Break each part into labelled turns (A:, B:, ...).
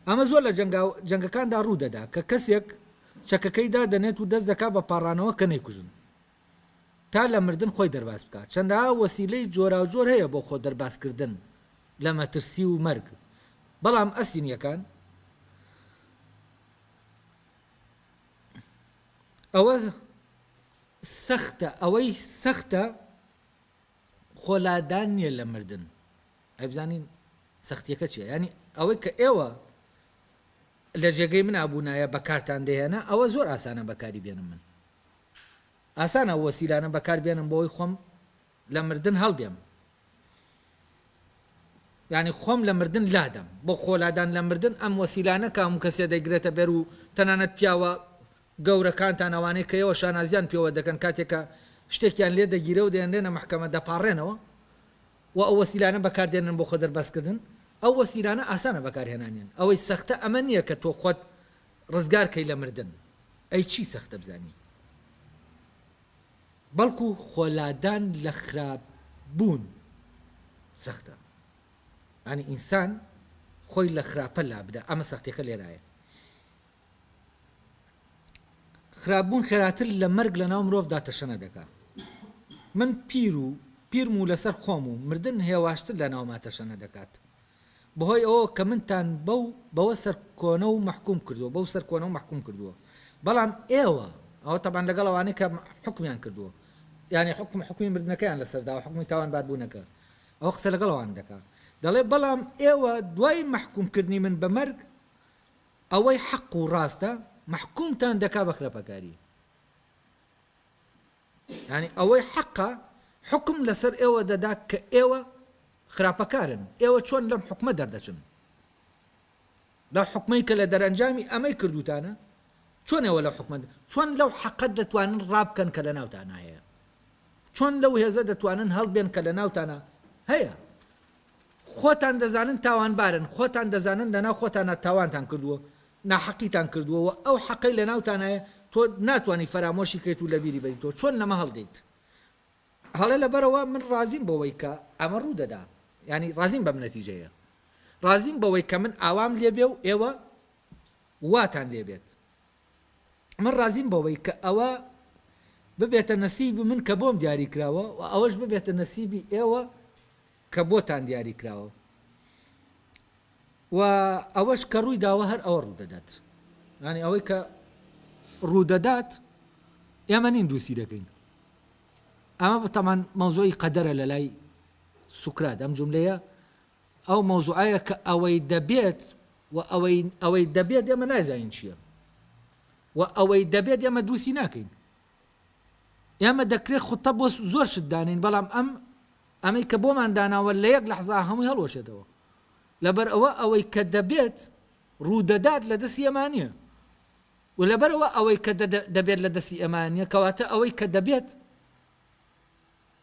A: ئەمە زۆر لە جەنگەکاندا ڕوو دەدا کە کەسێک چەکەکەی دادەنێت و دەست دەکات بە پاڕانەوە کە نەیکوژن تا لە مردن خۆی دەرباز بکات، چەندەها وەسیلەی جۆراوجۆر هەیە بۆ خۆ دەربازکردن لە مەترسی و مەرگ، بەڵام ئەسینییەکان ئەوە سەختە، ئەوەی سەختە خۆ لادان نییە لە مردن. ئەی بزانین سەختیەکە چیە یانی ئەوەی کە ئێوە لە جێگەی منا بوونایە بەکارتان دەهێنا ئەوە زۆر ئاسانە بەکاری بێنم من ئاسانە وەسیلانە بەکار بێنم بۆی خۆم لە مردن هەڵبێم ینی خۆم لە مردن لادەم بۆ خۆلادان لە مردن ئەم وەسیلانە کام کەسێ دەگرێتە بەر و تەنانەت پیاوە گەورەکانتان ئەوانەی کە ئێوە شانازیان پێوە دەکەن کاتێکە شتێکیان لێ دەگیرە و دێنێنە محکەمە دەپاڕێنەوە و ئەو وەسیلانە بەکار دێنن بۆ خۆ دەرباز کردن، ئەو وەسیلانە ئاسانە بەکار هێنانیان، ئەوەی سەختە ئەمە نیە کە تۆ خۆت ڕزگار کەی لە مردن، ئەی چی سەختە بزانی؟ بەڵکو خۆ لادان لە خراپ بوون سەختە، یانی ئینسان خۆی لە خراپە لابدا، ئەمە سەختیەکە لێرایە. خراپ بوون خێراتر لە مەرگ لە ناو مرۆڤدا تەشەنە دەکا من پیر و پیرم و لەسەر خۆم و مردن هێواشتر لە ناوما تەشەنە دەکات بەهۆی ئەوە کە منتان بەو بەوە سەرکۆنە و مەحکوم کردووە بەو سەرکۆنە و مەحکوم کردووە بەڵام ئێوە ئەوە تەبان لەگەڵ ئەوانەی کە حکمیان کردووە یعنی حکم حکمی مردنەکەیان لەسەردا و حکمی تاوان باربوونەکە ئەو قسە لەگەڵ ئەوان دەکا دەڵێ بەڵام ئێوە دوای مەحکوم کردنی من بە مەرگ ئەوەی حەق و ڕاستە مەحکومتان دەکا بە خراپەکاری یانی ئەوەی حەقە حوکم لەسەر ئێوە دەدا کە ئێوە خراپەکارن ئێوە چۆن لەم حکومە دەردەچن لەو حکومەی کە لە دەرەنجامی ئەمەی کردوتانە چۆن ئێوە لەو حکومە چۆن لەو حەقەت دەتوانن ڕابکەن کە لە ناوتان هەیە چۆن لەو هێزە دەتوانن هەڵبێن کە لە ناوتانە هەیە خۆتان دەزانن تاوانبارن، خۆتان دەزانن لەناو خۆتانا تاوانتان کردووە، ناحەقیتان کردووە و ئەو حەقەی لەناوتانایە تۆ ناتوانی فەرامۆشی کەیت و لەبیری بەری تۆ چۆن لەمە هەڵدێیت هەڵێ لەبەرەوە من ڕازیم بەوەی کە ئەمە ڕوودەدا یانی ڕازیم بەم نەتیجەیە ڕازیم بەوەی کە من ئاوام لێبێ و ئێوە واتان لێبێت من ڕازیم بەوەی کە ئەوە ببێتە نەسیبی من کە بۆم دیاری کراوە و ئەوەش ببێتە نەسیبی ئێوە کە بۆتان دیاری کراوە و ئەوەش کە ڕووی داوە هەر ئەوە ڕوودەدات یانی ئەوەی کە ڕوودەدات ئێمە نین دووسی دەکەین ئەمە بەتەمان مەوزۆی قەدەرە لە لای سوکرات ئەم جملەیە ئەو مەوزوعەیە کە ئەوەی دەبێت و ئەوەی ئەوەی دەبێت ئێمە نازانین چییە و ئەوەی دەبێت ئێمە دووسی ناکەین ئێمە دەکرێت خوتە بۆ زۆر شتدانین بەڵام ئەم ئەمەی کە بۆمان داناوە لە یەک لەحزا هەمووی هەڵوەشێتەوە لەبەرئەوە ئەوەی کە دەبێت ڕوودەدات لە دەستی ئێما نیە و لەبەرئەوە ئەوەی کە دەبێت لە دەستی ئێما نیە کەواتە ئەوەی کە دەبێت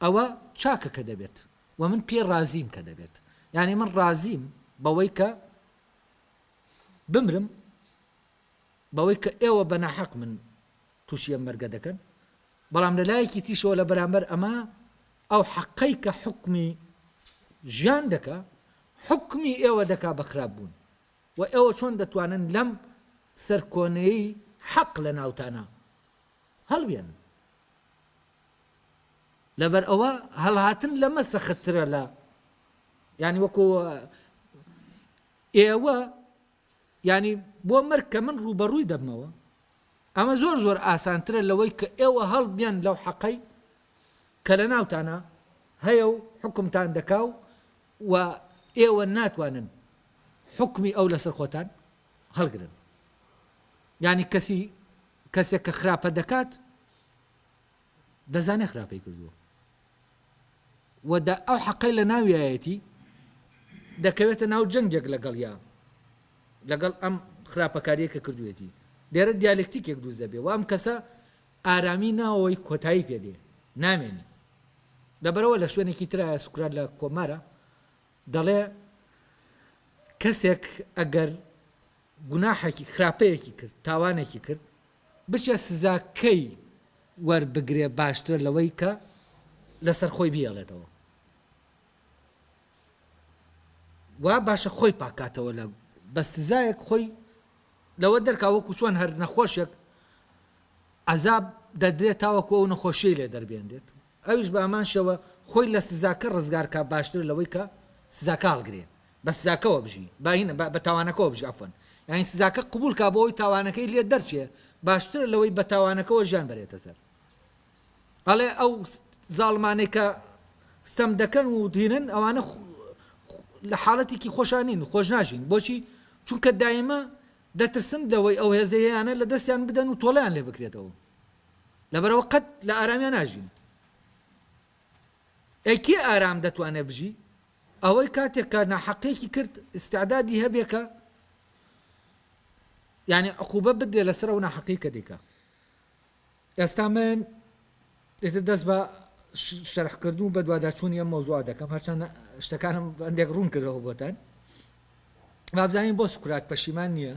A: ئەوە چاکە کە دەبێت و من پێ ڕازیم کە دەبێت یعنی من ڕازیم بەوەی کە بمرم بەوەی کە ئێوە بەناحەق من تووشی ئەم مەرگە دەکەن، بەڵام لە لایەکی تریشەوە لە بەرامبەر ئەمە ئەو حەقەی کە حوکمی ژیان دەکا حوکمی ئێوە دەکا بە خراپ بوون و ئێوە چۆن دەتوانن لەم سەرکۆنەی حەق لە ناوتانە هەڵبێن لەبەر ئەوە هەڵهاتن لەمە سەختترە لە ینی وەکو ئێوە یانی بۆ مەرگ کە من ڕووبەڕووی دەبمەوە ئەمە زۆر زۆر ئاسانترە لەوەی کە ئێوە هەڵبێن لەو حەقەی کە لە ناوتانا هەیە و حوکمتان دەکا و و ئێوە ناتوانن حوکمی ئەو لەسەر خۆتان هەڵگرن یانی کەسی کەسێک کە خراپە دەکات دەزانێ خراپەی کردووە و دە ئەو حەقەی لە ناویایەتی دەکەوێتە ناو جەنگێک لەگەڵیا لەگەڵ ئەم خراپەکاریە کە کردوێتی لێرە دیالکتیکێک دروست دەبێ و ئەم کەسە ئارامی ناوەوەی کۆتایی پێدێ نامێنی لەبەرەوە لە شوێنێکی ترایە سوکرات لە کۆمارە دەڵێ کەسێک ئەگەر گوناحێکی خراپەیەکی کرد تاوانێکی کرد بچێ سزا کەی وەر بگرێ باشترە لەوەی کە لەسەر خۆی بیەڵێتەوە وا باشە خۆی پاکاتەوە لە بە سزایەک خۆی لەوە دەرکا وەکو چۆن هەر نەخۆشێک عذاب دەدرێت تاوەکو ئەو نەخۆشیی لێ دەربێنرێت ئەویش بە هەمان شێوە خۆی لە سزاکە ڕزگار کا باشترە لەوەی کە سزاکە هەڵگرێ بە سزاکەوە بژی با هینە بە بە تاوانەکەوە بژی عەفوەن یانی سزاکە قبوڵ کا بۆ ئەوی تاوانەکەی لێ دەرچێ باشترە لەوەی بە تاوانەکەوە ژیان بەرێتە سەر ئەڵێ ئەو زاڵمانەی کە ستەم دەکەن و دینن ئەوانە لە حاڵەتێکی خۆشان نین خۆش ناژین بۆچی چونکە دایمە دەترسن لەوەی ئەو هێزەیەیانە لە دەستیان بدەن و تۆڵەیان لێ بکرێتەوە لەبەرەوە قەت لە ئارامیان ناژین ئەی کێ ئارام دەتوانێت بژی ئەوەی کاتێک کە ناحەقێکی کرد استعدادی هەبێ کە یعنی عقوبە بدرێ لەسەر ئەو ناحەقی کە دیکە ئێستا من ئیتر دەست بە شەرح کردن و بەدواداچوونی ئەم مەوزوعە دەکەم هەرچەند شتەکانم بەندێک ڕوون کردەوە بۆتان بابزانین بۆ سکرات پەشیمان نییە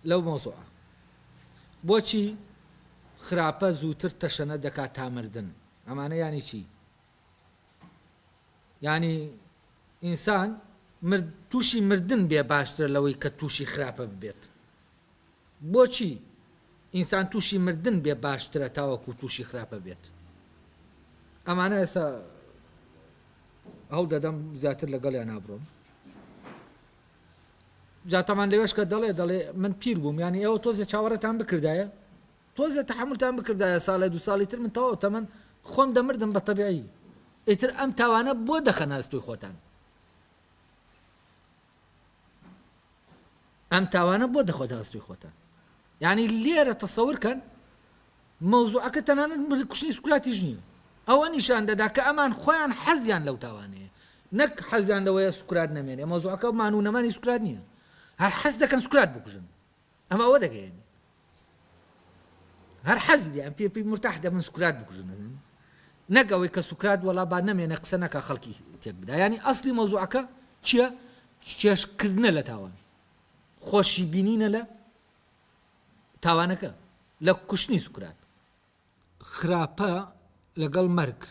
A: لەو مەوزوعە بۆچی خراپە زووتر تەشەنە دەکات تامردن ئەمانە ینی چی یانی ئینسان مرد توشی مردن بێ باشترە لەوەی کە توشی خراپە ببێت بۆچی ئینسان توشی مردن بێ باشترە تاوەکو توشی خراپە بێت ئەمانە ئێسا هەوڵ دەدەم زیاتر لەگەڵیان نابڕۆم جاتەمان لەوێشکە دەڵێ دەڵێ من پیر بووم یانی ئەوە تۆزێ چاوەڕێتان بکردایە تۆزێ تەحەمولتان بکردایە ساڵێ دوو ساڵی تر من تەواو تەمەن خۆم دەمردم بە تەبیعی ئیتر ئەم تاوانە بۆ دەخەنە ئەستۆی خۆتان ئەم تاوانە بۆ دەخۆتە ئەستۆی خۆتان یعنی لێرە تەسەور کەن مەوزوعەکە تەنانەت مر کوشتنی سکولاتیش نییە ئەوە نیشان دەدا کە ئەمان خۆیان حەزیان لەو تاوانەیە نەک حەزیان لەوەیە سکرات نەمێنێ مەوزوعەکە مانوونەمانی سکرات نییە هەر حەز دەکەن سکرات بکوژن ئەمە ئەوە دەگەیەنێ هەر حەزی لێیان پێ پێی مرتاح دەبن سوکرات بکوژن نەزن نەک ئەوەی کە سوکرات وەڵا با نەمێنێ قسە نەکە خەڵکی تێک بدا ینی ئەسلی مەوزوعەکە چییە چێشکردنە لە تاوان خۆشی بینینە لە تاوانەکە لە کوشتنی سوکرات خراپە لەگەڵ مەرگ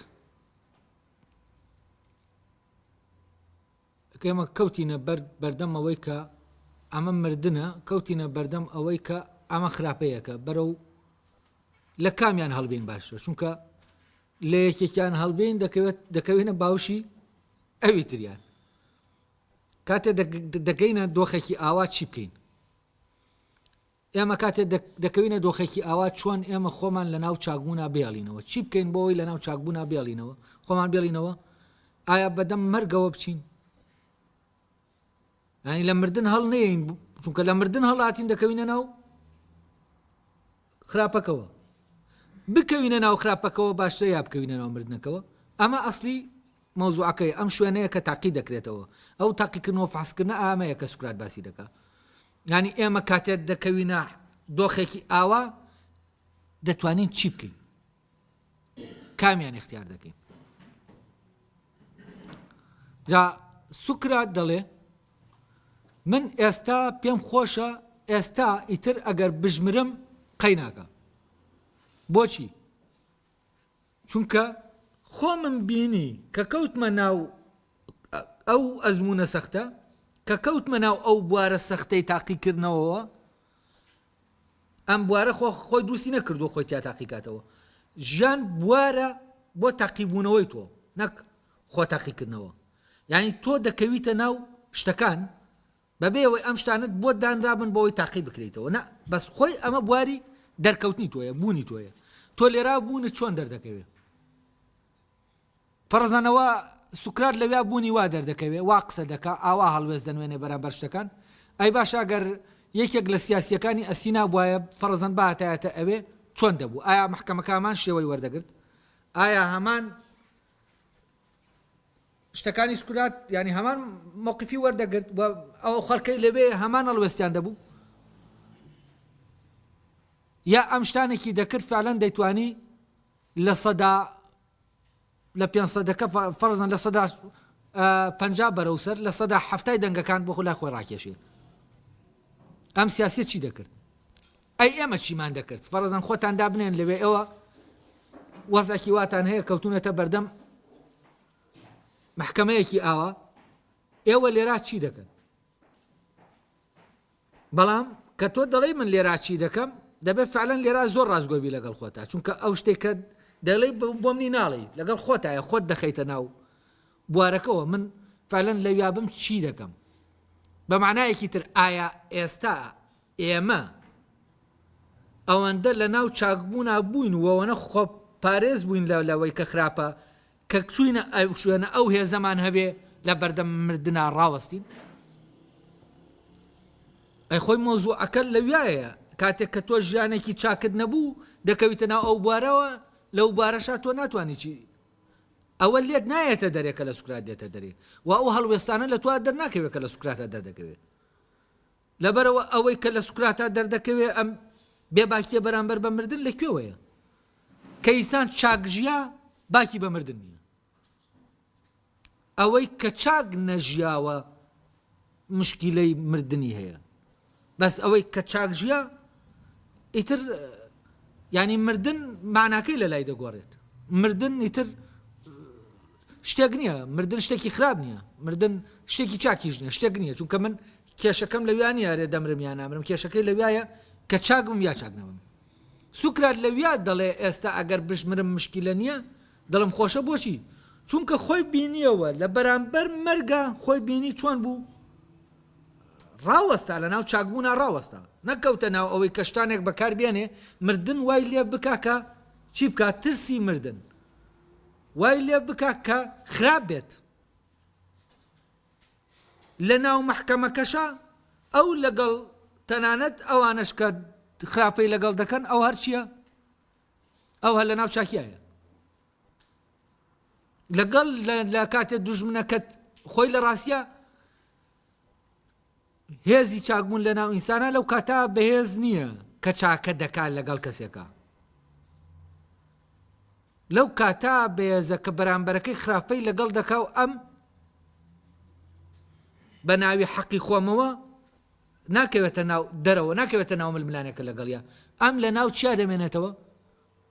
A: ئێمە کەوتینە بەر بەردەم ئەوەی کە ئەمە مردنە کەوتینە بەردەم ئەوەی کە ئەمە خراپەیەکە بەرەو لە کامیان هەڵبین باشە چونکە لە یەکێکیان هەڵبین دەکەوێت دەکەوێنە باوشی ئەوی تریان کاتێ دەگەینە دۆخێکی ئاوا چی بکەین ئێمە کاتێ دەکەوینە دۆخێکی ئاوا چۆن ئێمە خۆمان لە ناو چاکبوونا بێڵینەوە؟ چی بکەین بۆ ئەوەی لە ناو چاکبوونا بێڵینەوە؟ خۆمان بێڵینەوە؟ ئایا بەدەم مەرگەوە بچین؟ ینی لە مردن هەڵ نێین چونکە لە مردن هەڵاتین دەکەوینە ناو خراپەکەوە بکەوینە ناو خراپەکەەوە باشتر یا بکەوینە ناو مردنەکەەوە ئەمە ئەسلی مەوزوعەکەی ئەم شوێنەیە کە تاقی دەکرێتەوە ئەو تاقیکردنەوە فحسکردە ئامەیە کە سوکرات باسی دەکە یانی ئێمە کاتێ دەکەوینە دۆخێکی ئاوا دەتوانین چی بکەین؟ کامیان اختیار دەکەین؟ جا سوکرات دەڵێ من ئێستا پێم خۆشە ئێستا ئیتر ئەگەر بژمرم قەیناکە بۆچی؟ چونکە خۆمم بینی کە کەوتمە ناو ئەو ئەزموونە سەختە، کە کەوتمە ناو ئەو بوارە سەختەی تاقیکردنەوەوە، ئەم بوارە خۆ خۆی دروستی نەکردووە خۆی تیا تاقی کاتەوە، ژیان بوارە بۆ تاقیبوونەوەی تۆ نەک خۆ تاقیکردنەوە، یانی تۆ دەکەویتە ناو شتەکان بەبێ ئەوەی ئەم شتانەت بۆت دانرابن بۆ ئەوەی تاقی بکرێیتەوە نا بەس خۆی ئەمە بواری دەرکەوتنی تۆیە بوونی تۆیە تۆ لێرا بوونت چۆن دەردەکەوێ پەڕزەنەوە سوکرات لەویا بوونی وا دەردەکەوێ وا قسە دەکا ئاوا هەڵوێست دەنوێنێ بەرامبەر شتەکان ئەی باشە گەر یەکێک لە سیاسیەکانی ئەسینا بوایە فەڕزەن باتایەتە ئەوێ چۆن دەبوو ئایا محکەمەکە هەمان شێوەی وەردەگرت ئایا هەمان شتەکانی سکرات یانی هەمان مەوقیفی وەردەگرت و ئەو خەڵکەی لەوێ هەمان هەڵوێستیان دەبوو یا ئەم شتانێکی دەکرد فعلەن دەیتوانی لە سەدا لە پێ سەدەکە فەرزن لە سەدا پنج بەرەو سەر لە سەدا هەفتای دەنگەکان بۆ خۆلا خۆی ڕاکێشێت ئەم سیاسی چی دەکرد ئەی ئێمە چیمان دەکرد؟ فەرەزەن خۆتان دابنێن لەوێ ئێوە وەزعێکی واتان هەیە کەوتونەتە بەردەم محکەمەیەکی ئاوا ئێوە لێرا چی دەکەن بەڵام کە تۆ دەڵی من لێرا چی دەکەم دەبێت فعلەن لێرا زۆر ڕاستگۆبی لەگەڵ خۆتا چونکە ئەو شتێکە دەڵی بۆ منی ناڵی لەگەڵ خۆتایە خۆت دەخەیتە ناو بوارەکەەوە من فعلەن لەویابم چی دەکەم بە معنایەکی تر ئایا ئێستا ئێمە ئەوەندە لەناو چاکبوونا بووین و ئەوەنە خۆپارێز بووین لە لەوەی کە خراپە کە چووینە ئەو شوێنە ئەو هێزەمان هەبێ لە بەردەم مردنا ڕاوەستین ئەی خۆی مۆزوعەکە لەویایە کاتێک کە تۆ ژیانێکی چاکت نەبوو دەکەویتە ناو ئەو بوارەوە لەو بارەشا تۆ ناتوانانی چی ئەوە لێت نایەتە دەرێ کە لە سوکرات دێتە دەرێ و ئەو هەڵوێستانە لە توا دەرناکەوێت کە لە سوکراتە دەردەکەوێت لەبەرئەوە ئەوەی کە لە سوکراتا دەردەکەوێ ئەم بێباکییە بەرامبەر بە مردن لە کوێوەیە؟ کە ئینسان چاک ژیا باکی بە مردن نییە. ئەوەی کە چاک نەژیاوە مشکیلەی مردنی هەیە. بەس ئەوەی کە چاک ژیا ئیتر ینی مردن ماناکەی لە لای دەگۆڕێت مردن ئیتر شتێک نییە مردن شتێکی خراپ نییە مردن شتێکی چاکیش نیە شتێک نییە چونکە من کێشەکەم لە ویانی یارێ دەمرم یا نامرم کێشەکەی لە وایە کە چاک بم یا چاک نەبم سوکرات لە ویا دەڵێ ئێستا ئەگەر بشمرم مشکیلە نییە دڵم خۆشە بۆچی چونکە خۆی بینیەوە لە بەرامبەر مەرگە خۆی بینی چۆن بوو ڕاوەستا لە ناو چاکبوونا ڕاوەستا نەکەوتە ناو ئەوەی کەشتانێک بەکار بێنێ مردن وای لێ بکاکە چی بکات ترسی مردن وای لێ بکە کە خراپ بێت لە ناو مەحکەمەکەشا ئەو لەگەڵ تەنانەت ئەوانەش کە خراپەی لەگەڵ دەکەن ئەو هەرچیە ئەو هە لە ناو چاکیایە لەگەڵ لە کاتێ دوژمنەکەت خۆی لە ڕاستە هێزی چاکبوون لە ناو ئینسانا لەو کاتە بەهێز نییە کە چاکە دەکات لەگەڵ کەسێکە لەو کاتا بەێزە کە بەرامبەرەکەی خراپەی لەگەڵ دەکا و ئەم بە ناوی حەقی خۆمەوە ناکەوێتە ناو دەرەوە ناکەوێتە ناو ململانەکە لەگەڵیا ئەم لە ناو چیا دەمێنێتەوە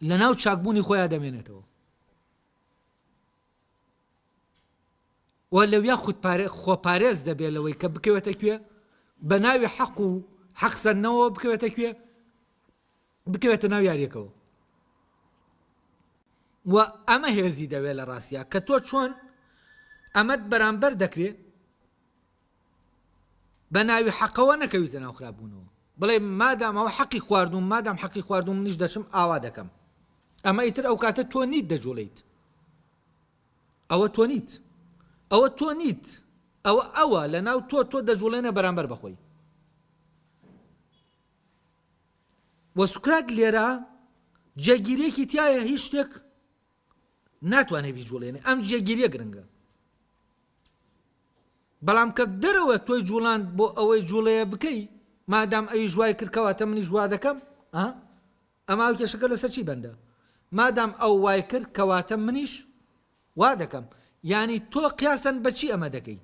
A: لە ناو چاکبوونی خۆیان دەمێنێتەوە و لەویا خود پارێ خۆ پارێز دەبێ لەوەی کە بکەوێتە کوێ بە ناوی حەق و حەق سەرنەوە بکەوێتە کوێ بکەوێتە ناو یاریەکەەوە و ئەمە هێزی دەوێت لە ڕاستە کە تۆ چۆن ئەمەد بەرامبەر دەکرێت بە ناوی حەقەوە نەکەویتە ناو خراپبوونەوە بڵێ مادام ئەوە حەقی خواردووم مادام حەقی خواردووم منیش دەچم ئاوا دەکەم ئەمە ئیتر ئەو کاتە تۆ نیت دەجوڵیت ئەوە تۆ نیت ئەوە تۆ نیت ئەوە ئەوە لە ناو تۆ تۆ دەجوڵێنە بەرامبەر بەخۆی وە سوکرات لێرە جێگیرێکی تایە هیچ شتێک ناتوانێت بیجوڵێنێ ئەم جێگیریە گرنگە بەڵام کە دەرەوە تۆی جوڵاند بۆ ئەوەی جوڵەیە بکەی مادام ئەویش وای کرد کەواتە منیش وا دەکەم ها ئەما ئەو کێشەکە لەسەر چی بەندە مادام ئەو وای کرد کەواتە منیش وا دەکەم یانی تۆ قیاسەن بەچی ئەمە دەکەی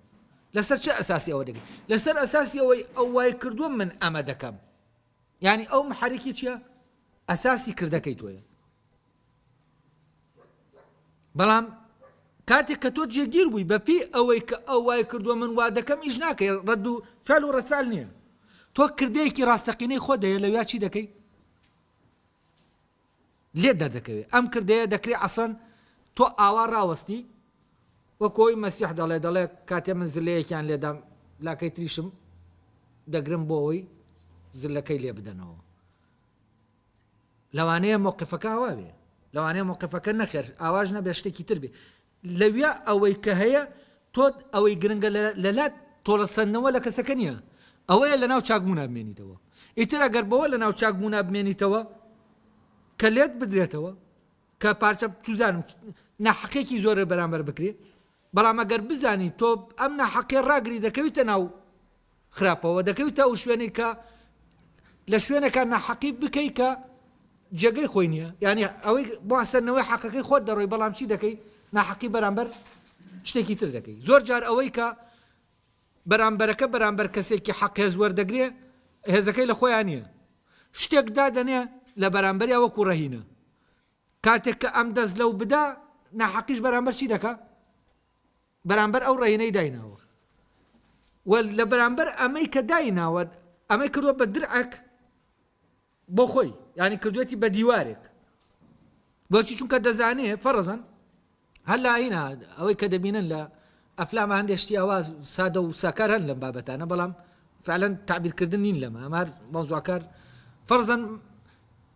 A: لەسەر چه ئەساسی ئەوە دەکەی لەسەر ئەساسی ئەوەی ئەو وای کردووە من ئەمە دەکەم یعنی ئەو محرکی چییە ئەساسی کردەکەی تۆیە بەڵام کاتێک کە تۆ جێگیر بووی بەپی ئەوەی کە ئەو وای کردووە من وا دەکەم ئیش ناکەی ڕەد و فعل و ڕەتفعل نییە تۆ کردەیەکی ڕاستەقینەی خۆ دەیە لەویا چی دەکەی لێ دەردەکەوێت ئەم کردەیە دەکرێ ئەسەن تۆ ئاوا ڕاوەستی وەکۆی مەسیح دەڵێ دەڵێ کاتێ من زلەیەکیان لێدام لاکەی تریشم دەگرم بۆ ئەوی زلەکەی لێ بدەنەوە لەوانەیە مەوقفەکە ئاوا بێ لەوانەیە مەوقفەکە نەخێر ئاواش نەبێ شتێکی تر بێ لەویا ئەوەی کە هەیە تۆ ئەوەی گرنگە لەلات تۆڵەسەندنەوە لە کەسەکە نییە ئەوەیە لە ناو چاکبوونا بمێنیتەوە ئیتر ئەگەر بەوە لە ناو چاکبوونا بمێنیتەوە کە لێت بدرێتەوە کە پارچە توزانم ناحقێکی زۆرە بەرامبەر بکرێ بەڵام ئەگەر بزانی تۆ ئەم ناحەقیە ڕاگری دەکەویتە ناو خراپەوە دەکەویتە ئەو شوێنەی کە لە شوێنەکە ناحەقی بکەی کە جێگەی خۆی نییە یعنی ئەوەی باسەرنەوەی حەقەکەی خۆت دەڕۆی بەڵام چی دەکەی ناحەقی بەرامبەر شتێکی تر دەکەی زۆر جار ئەوەی کە بەرامبەرەکە بەرامبەر کەسێکی حەقێز وەردەگرێ هێزەکەی لە خۆیان نییە شتێک دادەنێ لە بەرامبەریا وەکو ڕەهینە کاتێک کە ئەم دەست لەو بدا ناحەقیش بەرامبەر چی دەکا؟ بەرامبەر ئەو ڕەهینەی دایناوە و لە بەرامبەر ئەمەی کە دایناوە ئەمەی کردوە بە درعەک بۆ خۆی ینی کردوێتی بە دیوارێک بۆچی چونکە دەزانێ فەرزن هەر لە ئاینا ئەوەی کە دەبینن لە ئەفلامە هەندێ شتی ئەوا سادە و ساکار هەن لەم بابەتانە بەڵام فعلەن تعبیرکردن نین لەمە ئەمار مەوزوعکار فەرزەن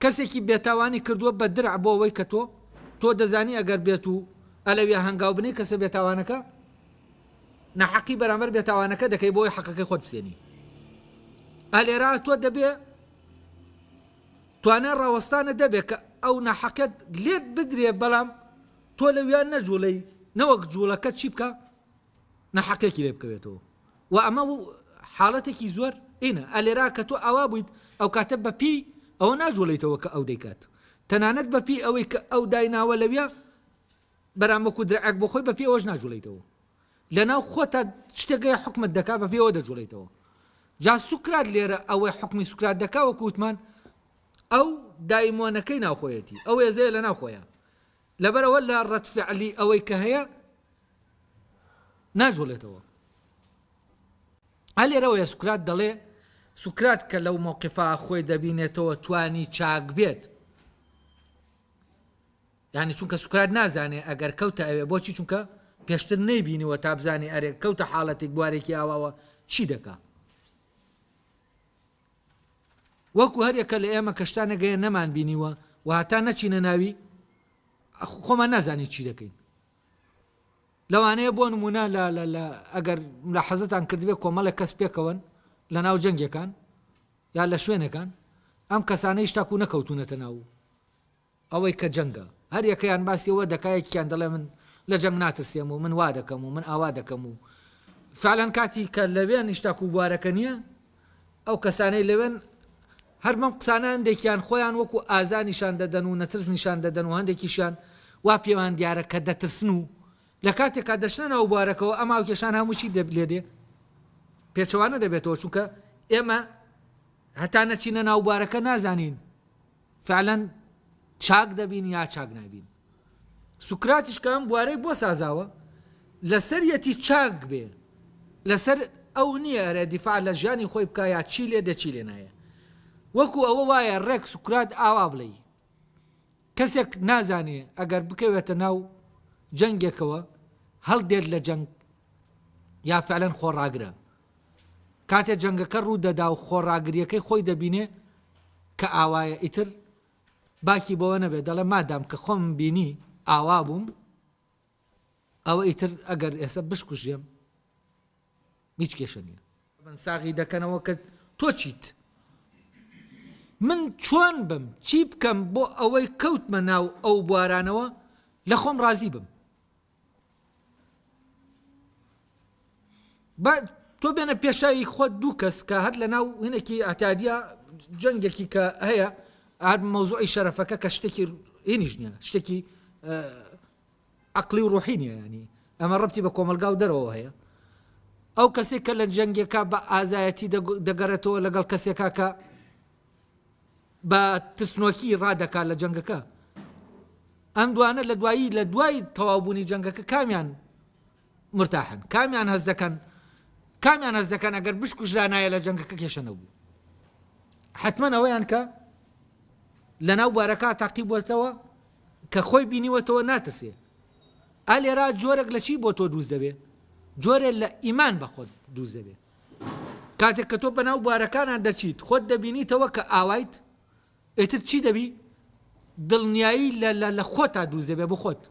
A: کەسێکی بێتاوانی کردووە بە درع بۆ ئەوەی کە تۆ تۆ دەزانی ئەگەر بێت و ئەلەویا هەنگاو بنی کەسە بێتاوانەکە نەحەقی بەرامبەر بێتاوانەکە دەکەی بۆی حەقەکەی خۆت بسێنی ئەلێرا تۆ دەبێ توانای ڕاوەستانت دەبێت کە ئەو ناحەقیەت لێت بدرێت بەڵام تۆ لەویا نەجوڵێی نەوەک جوڵەکە چی بکە ناحەقێکی لێ بکەوێتەوە و ئەمە حاڵەتێکی زۆر ئینە ئەلێرا کە تۆ ئاوا بوویت ئەو کاتە بەپی ئەوە ناجوڵیتەوە کە ئەو دەیکات تەنانەت بەپی ئەوەی کە ئەو دایناوە لەویا بەرامەکو درعک بۆ خۆی بەپی ئەوەش ناجوڵیتەوە لەناو خۆتا شتێک گەیە حوکمت دەکا بە پێوە دەجوڵێیتەوە جا سوکرات لێرە ئەوەی حوکمی سوکرات دەکا وەکو وتمان ئەو دایمۆنەکەی ناوخۆیەتی ئەو ێزەیە لە ناوخۆیە لەبەرەوە لە ڕەتفعلی ئەوەی کە هەیە ناجوڵێتەوە هە لێرەوەیە سوکرات دەڵێ سوکرات کە لەو مۆقفا خۆی دەبینێتەوە توانی چاک بێت یانی چونکە سوکرات نازانێ ئەگەر کەوتە ئەوێ بۆچی چونکە پێشتر نەیبینیوە تا بزانێ ئەرێ کەوتە حاڵەتێک بوارێکی ئاواوە چی دەکا وەکو هەرێکە لە ئێمە کە شتانە گەیە نەمان بینیوە و هەتا نەچینە ناوی خۆمان نازانین چی دەکەین لەوانەیە بۆ نمونە لە لە لە ئەگەر لە حەزتان کردبێ کۆمەڵێک کەس پێکەوەن لە ناو جەنگەکان یا لە شوێنەکان ئەم کەسانەیش تاکو نەکەوتونەتە ناو ئەوەی کە جەنگە هەر یەکەیان باسی ئەوە دەکا یەکیان دەڵێ من لە جەنگ ناترسێم و من وا دەکەم و من ئاوا دەکەم و فعلەن کاتی کە لەوێن هیچ تاکوو بوارەکە نییە ئەو کەسانەی لەوێن هەر بەم قسانە هەندێکیان خۆیان وەکوو ئازا نیشان دەدەن و نەترس نیشان دەدەن و هەندێکیشیان وا پێیان دیارە کە دەترسن و لە کاتێکا دەچنە ناو بوارەکەوە ئەم هاوکێشان هەموو چی لێ دێ پێچەوانە دەبێتەوە چونکە ئێمە هەتا نەچینە ناو بوارەکە نازانین فعلا چاک دەبین یا چاک نابین سوکراتیش کە ئەم بوارەی بۆ سازاوە لەسەریەتی چاک بێ لەسەر ئەو نییە ئەرێ دیفاع لە ژیانی خۆی بکە یا چی لێ دە چی لێ نایە وەکو ئەوە وایە ڕێک سوکرات ئاوا بڵێی کەسێک نازانێ ئەگەر بکەوێتە ناو جەنگێکەوە هەڵدێت لە جەنگ یا فعلەن خۆڕاگرە کاتێ جەنگەکە ڕوو دەدا و خۆڕاگرییەکەی خۆی دەبینێ کە ئاوایە ئیتر باکی بەوە نەبێ دەڵێ مادام کە خۆمم بینی ئاوا بووم ئەوە ئیتر ئەگەر ئێستا بشکوژێم هیچ کێشە نییە ساغی دەکەنەوە کە تۆ چیت من چۆن بم چی بکەم بۆ ئەوەی کەوتمە ناو ئەو بوارانەوە لە خۆم ڕازی بم بە تۆ بێنە پێشاوی خۆ دوو کەس کە هەر لە ناو هینێکی ئاتادیا جەنگێکی کە هەیە ئار مەوزوعی شەرەفەکە کە شتێکی هینیش نیە شتێکی عقلی و ڕوحی نیە ینی ئەمە ڕەتی بە کۆمەلگا و دەرەوە هەیە ئەو کەسێک کە لە جەنگەکە بە ئازایەتی دەگەرێتەوە لەگەڵ کەسێکا کە بە ترسنۆکی ڕادەکات لە جەنگەکە. ئەم دوانە لە دوایی لە دوای تەواوبوونی جەنگەکە کامیان مرتاحن؟ کامیان هەست دەکەن؟ کامیان هەست دەکەن ئەگەر بشکوژرانایە لە جەنگەکە کێشە نەبوو. حتمما ئەوەیان کە لەناو بارەکە تاقی بووەتەوە کە خۆی بینیوەتەوە ناترسێ ئالێرا جۆرەك لە چی بۆ تۆ دووز دەبێ جۆرێ لە ئیمان بەخۆت دووز دەبێ کاتێک کە تۆ بەناو بوارەکانان دەچیت خۆت دەبینیتەوە کە ئاوایت ئێتر چی دەبی دڵنیایی لە خۆتا دووز دەبێ بۆ خۆت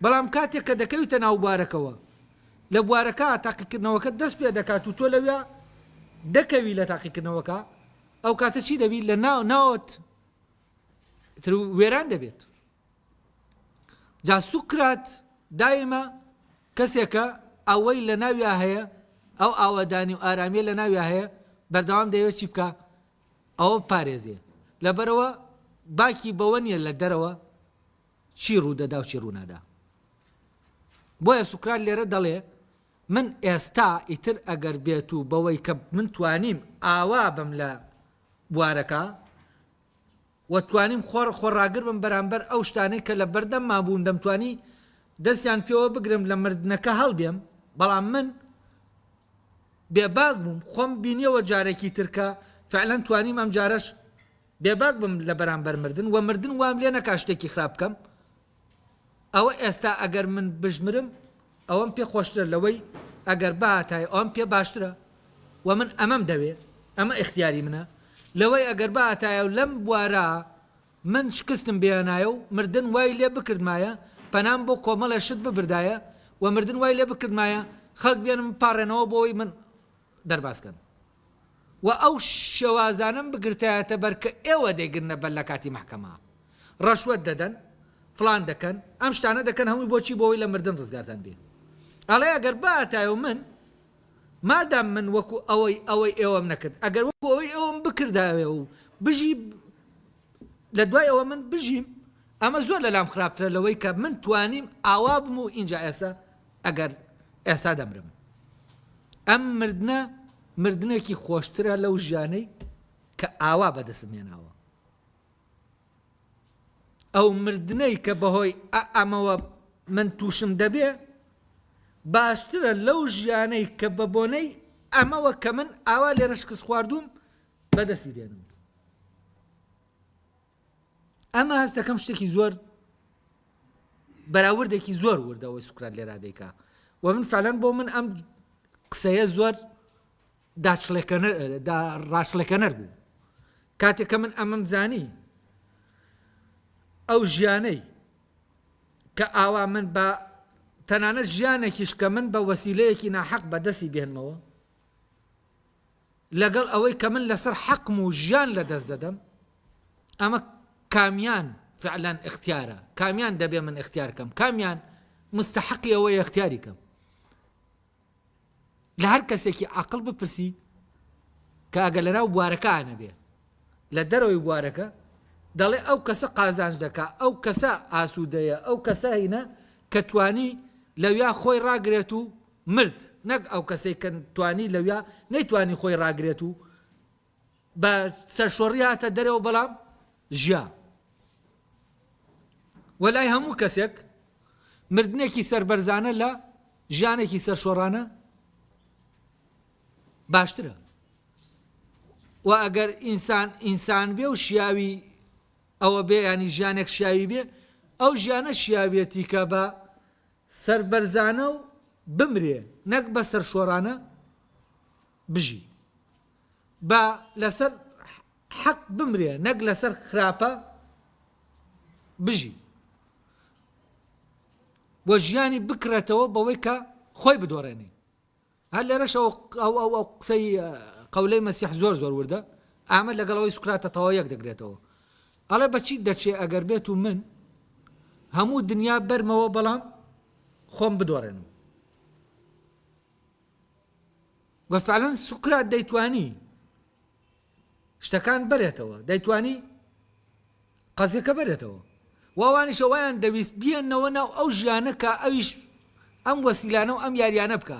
A: بەڵام کاتێک کە دەکەویتە ناو بوارەکەوە لە بوارەکە تاقیکردنەوەکە دەست پێ دەکات و تۆ لەوێ دەکەوی لە تاقیکردنەوەکە ئەو کاتە چی دەبیت لە ناو ناوت وێران دەبێت جا سوکرات دایمە کەسێکە ئەوەی لەناویا هەیە ئەو ئاوەدانی و ئارامیە لەناویا هەیە بەردەوام دەیەوێت چی بکە ئەوە پارێزێ لەبەرەوە باکی بەوە نیە لە دەرەوە چی ڕوودەدا و چی ڕوونادا بۆیە سوکرات لێرە دەڵێ من ئێستا ئیتر ئەگەر بێت و بەوەی کە من توانیم ئاوا بم لە بوارەکە وە توانیم خۆڕ خۆڕاگر بم بەرامبەر ئەو شتانەی کە لە بەردەمما بوون دەمتوانی دەستیان پێوە بگرم لە مردنەکە هەڵبێم بەڵام من بێباک بووم خۆم بینیەوە جارێکی تر کە فعلەن توانیم ئەم جارەش بێباک بم لە بەرامبەر مردن وە مردن وام لێ نەکا شتێکی خراپ بکەم ئەوە ئێستا ئەگەر من بژمرم ئەوەم پێ خۆشترە لەوەی ئەگەر بهاتایە ئەوەم پێ باشترە و من ئەمەم دەوێ ئەمە ئیختیاری منە لەوەی ئەگەر بهاتایە و لەم بوارە من شکستم بهێنایە و مردن وای لێ بکردمایە پەنام بۆ کۆمەڵێ شت ببردایە و مردن وای لێ بکردمایە خەڵک بێنم بپاڕێنەوە بۆ ئەوەی من دەرباز کەن و ئەو شێوازانەم بگرتایەتە بەر کە ئێوە دەیگرنە بەر لە کاتی مەحکەمە ڕەشوەت دەدەن فڵان دەکەن ئەم شتانە دەکەن هەمووی بۆچی بۆ ئەوەی لە مردن ڕزگارتان بێ ئەڵێ ئەگەر باتای و من مادام من وەکو ئەوەی ئەوەی ئێوەم نەکرد ئەگەر وەکو ئەوەی ئێوەم بکرداوێ و بژی لە دوای ئەوە من بژیم ئەمە زۆر لەلام خراپترە لەوەی کە من توانیم ئاوا بم و ئینجا ئێستا ئەگەر ئێستا دەمرم ئەم مردنە مردنێکی خۆشترە لەو ژیانەی کە ئاوا بەدەسم هێناوە ئەو مردنەی کە بەهۆی ئەمەوە من تووشم دەبێ باشترە لەو ژیانەی کە بە بۆنەی ئەمەوە کە من ئاوا لێرە شکست خواردوم بەدەستی دێنم ئەمە هەست دەکەم شتێکی زۆر بەراوردێکی زۆر وردەوەی سوکرات لێرا دەیکا و من فعلەن بۆ من ئەم قسەیە زۆر ڕاشلەکەنەر بوو کاتێکە من ئەمەم زانی ئەو ژیانەی کە ئاوا من بە تەنانە ژیانێکیش کە من بە وەسیلەیەکی ناحەق بەدەستی بێنمەوە لەگەڵ ئەوەی کە من لەسەر حەقم و ژیان لەدەست دەدەم، ئەمە کامیان فعلا ئیختیارە؟ کامیان دەبێ من ئیختیار کەم؟ کامیان مستەحەقی ئەوەیە ئیختیاری کەم؟ لە هەر کەسێکی عاقڵ بپرسی کە ئەگە لەناو بوارەکانە بێ لە دەرەوەی بوارەکە دەڵێ ئەو کەسە قازانج دەکا ئەو کەسە ئاسوودەیە ئەو کەسە هینە کە توانی لەویا خۆی ڕاگرێت و مرد نەک ئەو کەسەی کە توانی لەویا نەیتوانی خۆی ڕاگرێت و بە سەرشۆڕی هاتە دەرەوە بەڵام ژیا وەلای هەموو کەسێک مردنێکی سەربەرزانە لە ژیانێکی سەرشۆڕانە باشترە و ئەگەر ئینسان ئینسان بێ و شیاوی ئەوە بێ ینی ژیانێک شیاوی بێ ئەو ژیانە شیاوێتی کە بە سەربەرزانە و بمرێ نەک بە سەرشۆرانە بژی. با لەسەر حەق بمرێ نەک لەسەر خراپە بژی. و ژیانی بکڕێتەوە بەوەی کە خۆی بدۆڕێنێ. هەر لێرەش ئەو ئەو ئەو قسەی قەولەی مەسیح زۆر زۆر وردە، ئامەد لەگەڵ ئەوەی سوکراتە تەواو یەک دەگرێتەوە. ئەڵێ بە چیت دەچێ ئەگەر بێتو من هەموو دنیا بەرمەوە بەڵام خۆم بدۆڕێنم. و فعلا سوکرات دەیتوانی شتەکان بەرێتەوە دەیتوانی قەزیەکە بەرێتەوە و ئەوانیشە وایان دەویست بیێنەوە ناو ئەو ژیانە کە ئەویش ئەم وەسیلانە و ئەم یاریانە بکە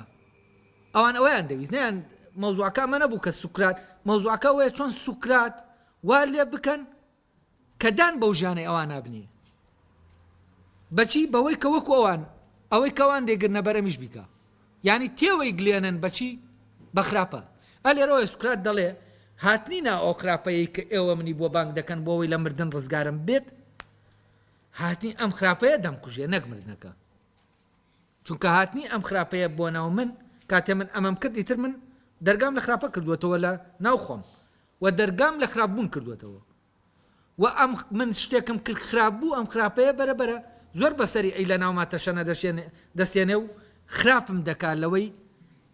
A: ئەوان ئەویان دەویست نیان مەوزوعەکە ئەمە نەبوو کە سوکرات مەوزوعەکە وەیە چۆن سوکرات وا لێ بکەن کە دان بەو ژیانەی ئەوان نابنی بەچی بەوەی کە وەکو ئەوان ئەوەی کەوان دێگرنە بەرەمیش بیکە یعنی تێوەی گلێنن بەچی بە خراپە ئە لێرەوەی سوکرات دەڵێ هاتنی نا ئەو خراپەیە کە ئێوە منی بۆ بانگ دەکەن بۆەوەی لە مردن ڕزگارم بێت هاتنی ئەم خراپەیە دەمکوژێ نەک مردنەکە چونکە هاتنی ئەم خراپەیە بۆ ناو من کاتێ من ئەمەم کردی تر من دەرگام لە خراپە کردووەتەوە لە ناو خۆم و دەرگام لە خراپ بوون کردووەتەوە و ئەم من شتێکم کرد خراپ بوو ئەم خراپەیە بەرە بەرە زۆر بە سەریعی لە ناوما تەشەنە دەسێنێ و خراپم دەکا لەوەی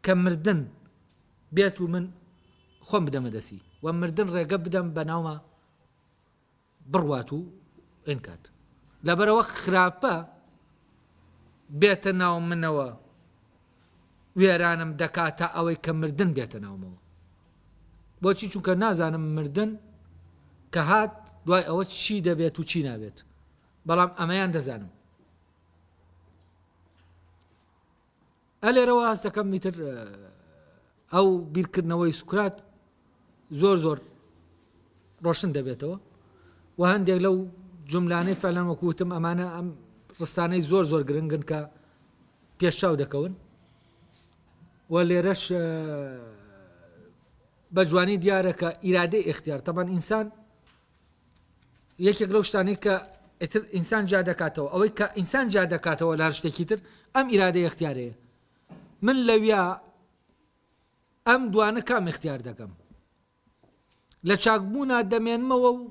A: کە مردن بێت و من خۆم بدەمە دەسی و مردن ڕێگە بدەم بە ناوما بڕوات و ئینکات لەبەرەوە خراپە بێتە ناو منەوە وێرانم دەکات تا ئەوەی کە مردن بێتە ناومەوە بۆچی چونکە نازانم مردن کە هات دوای ئەوە چی دەبێت و چی نابێت بەڵام ئەمەیان دەزانم ئە لێرەوە هەست دەکەم ئیتر ئەو بیرکردنەوەی سوکرات زۆر زۆر ڕۆشن دەبێتەوە و هەندێک لەو جملانەی فەلەن وەکوتم ئەمانە ئەم ڕستانەی زۆر زۆر گرنگن کە پێشاو دەکەون و لێرەش بە جوانی دیارە کە ئیرادەی اختیار تەبەن ئینسان یەکێک لەو شتانەی کە ئیتر ئینسان جیا دەکاتەوە ئەوەی کە ئینسان جیا دەکاتەوە لە هەر شتێکی تر ئەم ئیرادەی اختیارەیە من لەویا ئەم دوانە کام اختیار دەکەم لە چاکبوونا دەمێنمەوە و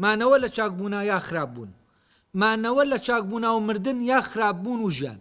A: مانەوە لە چاکبوونا یا خراپ بوون مانەوە لە چاکبوونا و مردن یا خراپ بوون و ژیان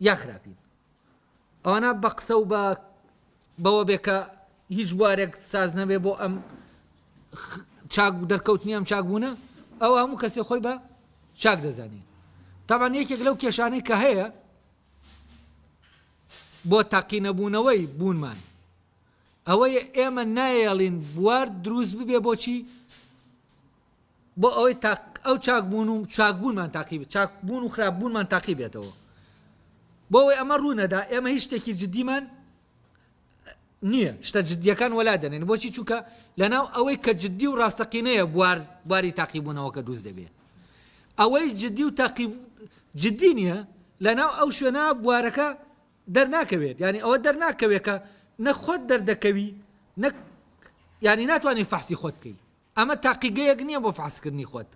A: یا خراپین ئەوانە بە قسە و بە بەوە بێ کە هیچ بوارێک ساز نەبێ بۆ ئەم چاک دەرکەوتنی ئەم چاک بوونە ئەو هەموو کەسێ خۆی بە چاک دەزانین تاوان یەکێک لەو کێشانەی کە هەیە بۆ تاقینەبوونەوەی بوونمان ئەوەی ئێمە نایەڵین بوار دروست ببێ بۆچی بۆ ئەوەی تاق ئەو چاک بوون و چاک بوونمان تاقیبێت چاک بوون و خراپ بوونمان تاقی بێتەوە بۆ ئەوەی ئەمە ڕوونەدا ئێمە هیچ شتێکی جددیمان نییە شتە جددیەکان وەلا دەنێن بۆچی چووکە لەناو ئەوەی کە جددی و ڕاستەقینەیە بوار بواری تاقیبوونەوە کە دروست دەبێت ئەوەی جددی و تاقی جددی نییە لەناو ئەو شوێنە بوارەکە دەرناکەوێت ینی ئەوە دەرناکەوێت کە نەخۆت دەردەکەوی نەک ینی ناتوانانی فەحسی خۆت بکەیت ئەمە تاقیگەیەک نیە بۆ فەحسکردنی خۆت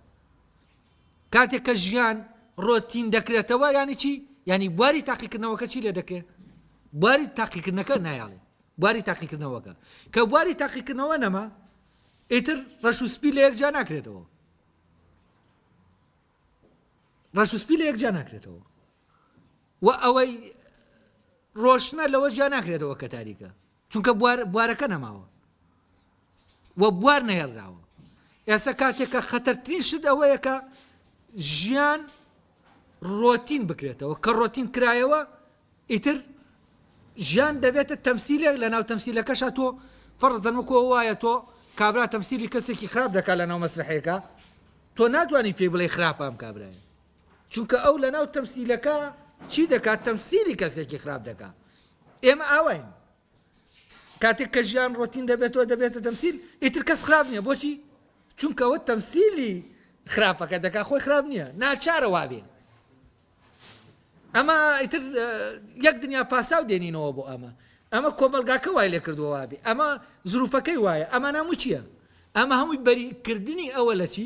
A: کاتێک کە ژیان ڕۆتین دەکرێتەوە یانی چی یانی بواری تاقیکردنەوەکە چی لێ دەکرێت بواری تاقیکردنەکە نایاڵێ بواری تاقیکردنەوەکە کە بواری تاقیکردنەوە نەما ئیتر ڕەش و سپی لە یەکجا ناکرێتەوە ڕەش و سپی لە یەکجا ناکرێتەوە و ئەوەی ڕۆشنە لەوە جیا ناکرێتەوە کە تاریکە چونکە بوار بوارەکە نەماوە و بوار نەهێڵراوە ئێستا کاتێکە خەتەرترین شت ئەوەیە کە ژیان ڕۆتین بکرێتەوە کە ڕۆتین کرایەوە ئیتر ژیان دەبێتە تەمسیلێک لە ناو تەمسیلەکەشە تۆ فەرزەنمکۆ وایە تۆ کابرا تەمسیلی کەسێکی خراپ دەکات لە ناو مەسرحەیەەکە تۆ ناتوانانی پێی بڵێ خراپام کابراە چونکە ئەو لەناو تەمسیلەکە چی دەکات تەمسیلی کەسێکی خراپ دەکا ئێمە ئاواین کاتێک کە ژیان ڕۆتین دەبێتەوە دەبێتە تەمسیل ئیتر کەس خراپ نییە بۆچی چونکەەوە تەمسیلی خراپەکە دەکا خۆی خراپ نییە ناچارە وابێ ئەمە ئیتر یەک دنیا پاساو دێنینەوە بۆ ئەمە ئەمە کۆمەلگاکە وای لێ کردووە وابێ ئەمە زروفەکەی وایە ئەمە ناموچیە ئەمە هەمووی بەریکردنی ئەوە لە چی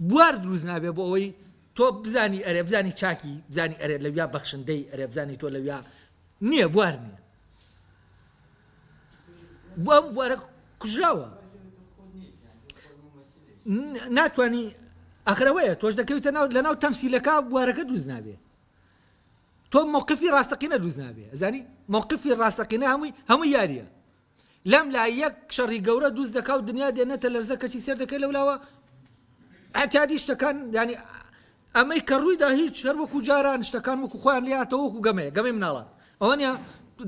A: بوار دروست نابێت بۆ ئەوەی تۆ بزانی ئەرێ بزانی چاکی بزانی ئەرێ لەویا بەخشندەی ئەرێ بزانی تۆ لەویا نییە بوار نییە بۆ ئەم بوارە کوژراوە ناتانی ئەخرەوەیە تۆش دەکەویتە ناو لە ناو تەمسیلەکە بوارەکە دروست نابێ تۆ موقفی ڕاستەقینە دروست نابێ ئەزانی موقفی ڕاستەقینە هەمووی هەموو یاریە لەم لا یەک شەڕی گەورە دوست دەکا و دنیا دێنێتە لەرزە کەچی سێر دەکەی لەولاوە ئەتادی شتەکان ینی ئەمەی کە ڕوویدا هیچ هەر وەکو جاران شتەکان وەکو خۆیان لاتەوە وەکو گەمەیە گەمەی مناڵان ئەوەنە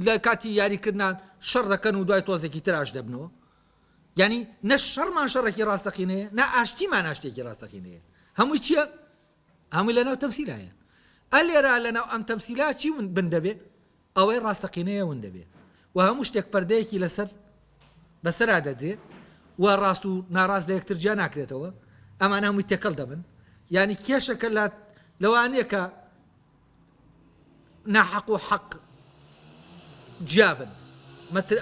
A: لە کاتی یاریکردان شەڕ دەکەن و دوای تۆزێکی تراش دەبنەوە ینی نە شەڕمان شەڕێکی ڕاستەقینەیە نا ئاشتیمان ئاشتێکی ڕاستەقینەیە هەمووی چییە؟ هەمووی لەناو تەمسیلایە ئەلێرا لەناو ئەم تەمسیلا چی بن دەبێ ئەوەی ڕاستەقینەیە ون دەبێ و هەموو شتێک پەردەیەکی لەسەر بەسەرا دەدرێ و ڕاست و ناڕاست لە یەکتر جیا ناکرێتەوە، ئەمانە هەمووی تێکەڵ دەبن. یانی کێشەکە لە لەوە نییە کە ناحەق و حەق جیا بن.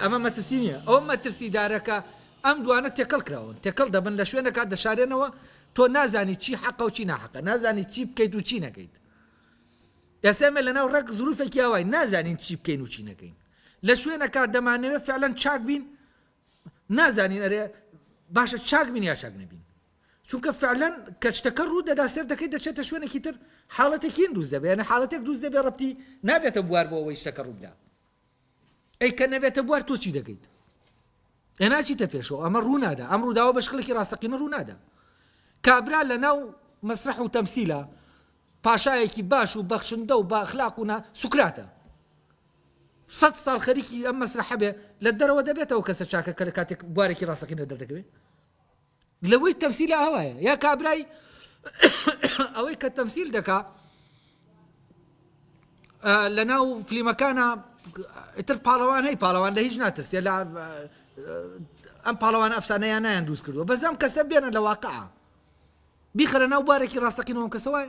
A: ئەمە مەترسی نییە. ئەو مەترسیدارەکە ئەم دوانە تێکەڵ کراون، تێکەڵ دەبن لە شوێنەکە دەشارێنەوە، تۆ نازانی چی حەقە و چی ناحەقە، نازانی چی بکەیت و چی نەکەیت. ئێستا ئێمە لەناو ڕێک زروفێکی ئاواین نازانین چی بکەین و چی نەکەین لە شوێنەکە دەمانەوێت فعلەن چاک بین نازانین ئەرێ باشە چاک بین یا چاک نەبین چونکە فعلەن کە شتەکە ڕوو دەدا سێر دەکەیت دەچێتە شوێنێکی تر حاڵەتێکین دروست دەبێنە حاڵەتێک دروست دەبێ ڕەتی نابێتە بوار بۆ ئەوەی شتەکە ڕوودا ئەی کە نەبێتە بوار تۆ چی دەکەیت ئە ناچیتە پێشەوە ئەمە ڕوونادا ئەم ڕووداوە بە شکلێکی ڕاستەقینە ڕوونادا کابرا لە ناو مەسرح و تەمسیلە پاشایەکی باش و بەخشندە و باخلاقونا سوکراتە سە ساڵ خەریکی ئەم مەسرح هەبێ لە دەرەوە دەبێتەوە کەسە چاکە کە لە کاتێک بوارێکی ڕاستەقینە دەردەکەوێت لەوەی تەمسیل ئاوایە یا کابرای ئەوەی کە تەمسیل دەکا لە ناو فلیمەکانە تر پاڵەوان هەی پاڵەوان لە هیچ ناترسێ لە ئەم پاڵەوان ئەفسانەیان نیان دروست کردووە بەزەم کەسە بێنە لە واقع بیخرە ناو بارێکی ڕاستەقینەوەم کەسەوە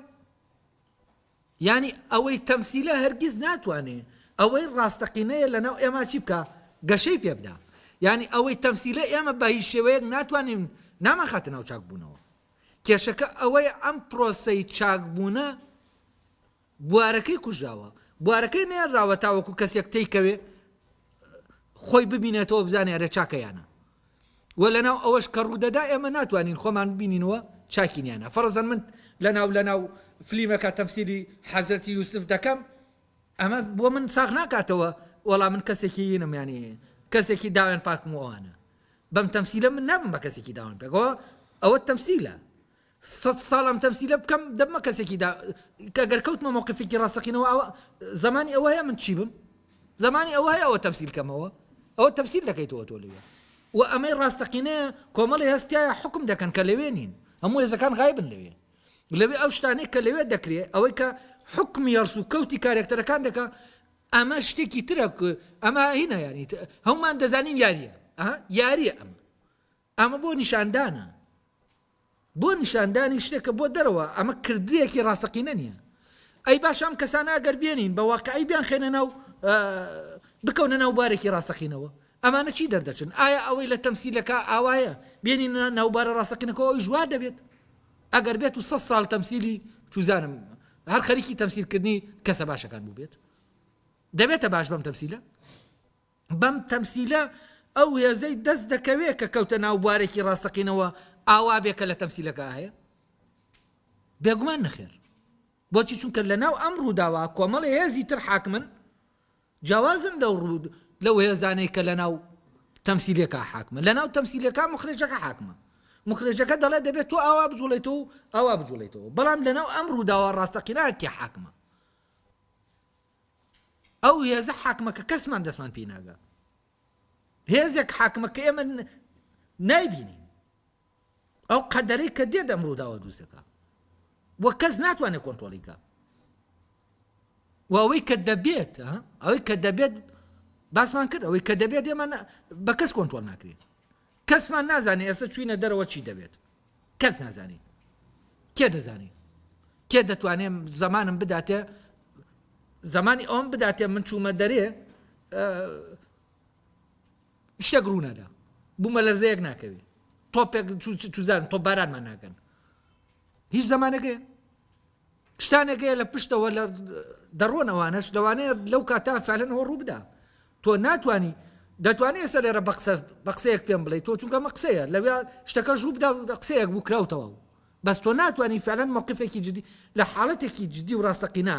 A: یانی ئەوەی تەمسیلە هەرگیز ناتوانێ ئەوەی ڕاستەقینەیە لەناو ئێمە چی بکا؟ گەشەی پێ بدا. یانی ئەوەی تەمسیلە ئێمە بە هیچ شێوەیەک ناتوانین نامانخاتە ناو چاکبوونەوە. کێشەکە ئەوەیە ئەم پرۆسەی چاکبوونە بوارەکەی کوژراوە، بوارەکەی نەێنراوە تاوەکو کەسێک تێی کەوێ، خۆی ببینێتەوە بزانێ ئەرێ چاکە یانە و لەناو ئەوەش کە ڕوودەدا ئێمە ناتوانین خۆمان ببینینەوە چاکینیانە فەرزەن من لەناو لەناو فلیمەکە تەمسیلی حەزەتی یوسف دەکەم ئەمە بۆ من ساغ ناکاتەوە وەڵام من کەسێکی ینم ینی کەسێکی داوێن پاکمەوانە بەم تەمسیلە من نابم بە کەسێکی داوان پێکەوە ئەوە تەمسیلە سەد ساڵ ئەم تەمسیلە بکەم دەبمە کەسێکی دا کە گەر کەوتمە مەوقفێکی ڕاستەقینەوە ئەوە زمانی ئەوە هەیە من چی بم زمانی ئەوە هەیە ئەوە تەمسیل کەمەوە ئەوە تەمسیل دەکەیتەوە تۆ لەوێ و ئەمەی ڕاستەقینەیە کۆمەڵی هەستایە حکم دەکەن کە لەوێ نین هەموو هێزەکان غایبن لەوێ لەوێ ئەو شتانەی کە لەوێ دەکرێت ئەوەی کە حکمی هەڵس و کەوتی کارێکتەرەکان دەکە ئەمە شتێکی ترە ئەمە هینە یاری هەمومان دەزانین یاریە یاریە ئەمە ئەمە بۆ نیشاندانە، بۆ نیشاندانی شتێکە بۆ دەرەوە، ئەمە کردەیەکی ڕاستەقینە نییە. ئەی باشە ئەم کەسانە ئەگەر بێنین بە واقیعی بیانخەینە ناو بکەونە ناو بارێکی ڕاستەقینەوە، ئەمانە چی دەردەچن؟ ئایا ئەوەی لە تەمسیلەکە ئاوایە بێنینە ناو بارە ڕاستەقینەکەەوە ئەویش وا دەبێت؟ ئەگەر بێت و سە ساڵ تەمسیلی چوزانم هەر خەریکی تەمسیلکردنی کەسە باشەکان بووبێت دەبێتە باش بەم تەمسیلە؟ بەم تەمسیلە ئەو هێزەی دەست دەکەوێ کە کەوتە ناو بوارێکی ڕاستەقینەوە ئاوا بێ کە لە تەمسیلەکە هەیە بێگومان نەخێر بۆچی چونکە لە ناو ئەم ڕووداوە کۆمەڵی هێزی تر حاکمن جیاوازن لەو ڕوود لەو هێزانەی کە لە ناو تەمسیلەکە حاکمە لە ناو تەمسیلەکە مخرێجەکە حاکمە مخرێجەکە دەڵێ دەبێت تۆ ئاوا بجوڵێتەوە ئاوا بجوڵێتەوە بەڵام لەناو ئەم ڕووداوە ڕاستەقیناکی حاکمە ئەو هێزە حاکمە کە کەسمان دەستمان پێی ناگا هێزێک حاکمە کە ئێمە نایبینین ئەو قەدەرەی کە دێ دەم ڕووداوە دروست دەکە وە کەس ناتوانێت کۆنتۆلیکە ئەوەی کە دەبێت ئەوەی کە دەبێت باسمان کرد ئەوەی کە دەبێت ئێمە بە کەس کۆنتۆل ناکرێت کەسمان نازانێ ئێستا چوینە دەرەوە چی دەبێت کەس نازانی کێ دەزانی کێ دەتوانێ زمانم بداتێ زمانی ئەوم بداتێ من چوومە دەرێ شتێک ڕوونەدا بوومە لەرزەیەک ناکەوێت تۆپێک توزان تۆ بارانمان ناکەن هیچ زمانەکەی شتانێک هەیە لە پشتەوە لە دەڕۆن ئەوانەش لەوانەیە لەو کاتە فعلەنەوە ڕووبدا تۆ ناتانی دەتوانێت ئێستا لێرە بە قسە بە قسەیەک پێم بڵێ تۆ چونکە مە قسەیە لەوێ شتەکە ژوو بدا و قسەیەک بوو کراوتەوە بەس تۆ ناتانی فعلەن مەقفێکی جدی لە حاڵەتێکی جدی و ڕاستەقینا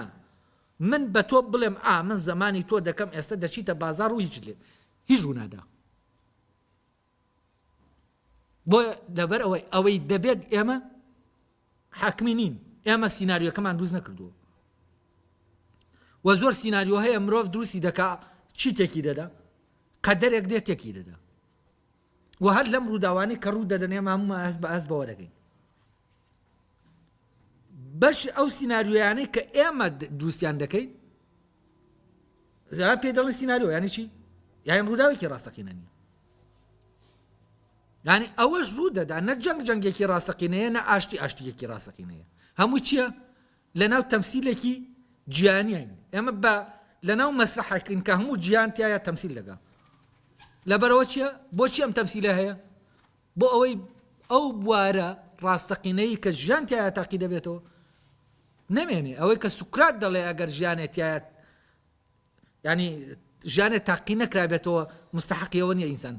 A: من بە تۆ بڵێم ئا من زمانی تۆ دەکەم ئێستا دەچیتە بازار و هیچ لێ هیچ ونادا بۆیە لەبەر ئەوەی ئەوەی دەبێت ئێمە حاکمی نین ئێمە سینناریۆکەمان دروست نەکردووە وە زۆر سینناریۆ هەیە مرۆڤ دروستی دەکا چی تێکی دەدا قەدەرێک دێت تێکی دەدا و هەر لەم ڕووداوانی کە ڕوو دەدەنێ مامومان هەست بە ئەس بەوە دەگەین بەشی ئەو سیناریۆیانەی کە ئێمە دروستیان دەکەین زیاد پێ دەڵێن سیناریۆ یانی چی یان ڕووداوێکی ڕاستەقینە نیە ینی ئەوەش ڕوو دەدا نە جەنگ جەنگێکی ڕاستەقینەیە نە ئاشتی ئاشتیەکی ڕاستەقینەیە هەموو چییە لە ناو تەمسیلێکی جیانیین ئێمە بە لە ناو مەسرحەکەین کە هەموو جیان تایە تەمسیل دەگا لەبەرەوە چییە بۆچی ئەم تەمسیلە هەیە بۆ ئەوەی ئەو بوارە ڕاستەقینەی کە ژیان تیایا تاقی دەبێتەوە نەمێنێ ئەوەی کە سوکرات دەڵێ ئەگەر ژیانێ تیایا ینی ژیانێ تاقی نەکرابێتەوە مستحقیەوە نیە ئینسان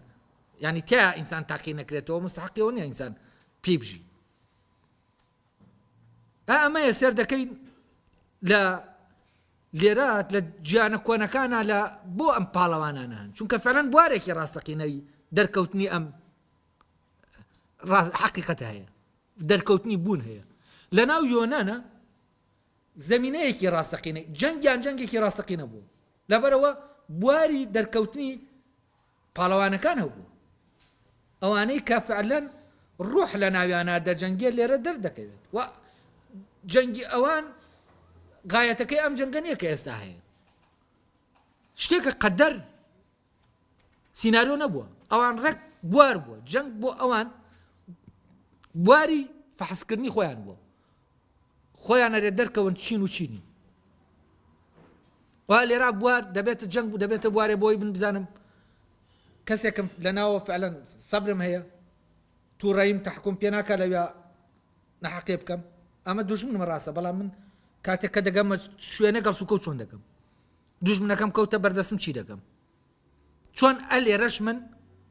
A: ینی تیا ئینسان تاقی نەکرێتەوە مستحقیەوە نیە ئینسان پێی بژی ئا ئەمەیە سێر دەکەین لە لێرە لە جیانە کۆنەکانە لە بۆ ئەم پاڵەوانانە هەن چونکە فەلەن بوارێکی ڕاستەقینەوی دەرکەوتنی ئەم حقیقەت هەیە دەرکەوتنی بوون هەیە لە ناو یۆنانە زمینەیەکی ڕاستەقینە جەنگیان جەنگێکی ڕاستەقینە بوو لەبەرەوە بواری دەرکەوتنی پاڵەوانەکان ئەو بوو ئەوانەی کە فعلەن ڕوح لە ناویانا دەجەنگێ لێرە دەردەکەوێت و جەنگی ئەوان غایەتەکەی ئەم جەنگە نییە کە ئێستا هەیە شتێکە قەدەر سینناریۆ نەبووە ئەوان ڕێک بوار بووە جەنگ بۆ ئەوان بواری فەحسکردنی خۆیان بووە خۆیان ئەرێ دەرکەون چین و چی نین وا لێرا بوار دەبێتە جەنگ و دەبێتە بوارێ بۆی من بزانم کەسێکم لەناوە فعلەن سەبرم هەیە تووڕەیم تحکم پێ ناکە لەویا نەحەقێ بکەم ئەمە دوژمنمە ڕاستە بەڵام من کاتێک کە دەگەمە شوێنە گەڵ سوکە چۆن دەکەم دوژمنەکەم کەوتە بەردەسم چی دەکەم چۆن ئە لێرەش من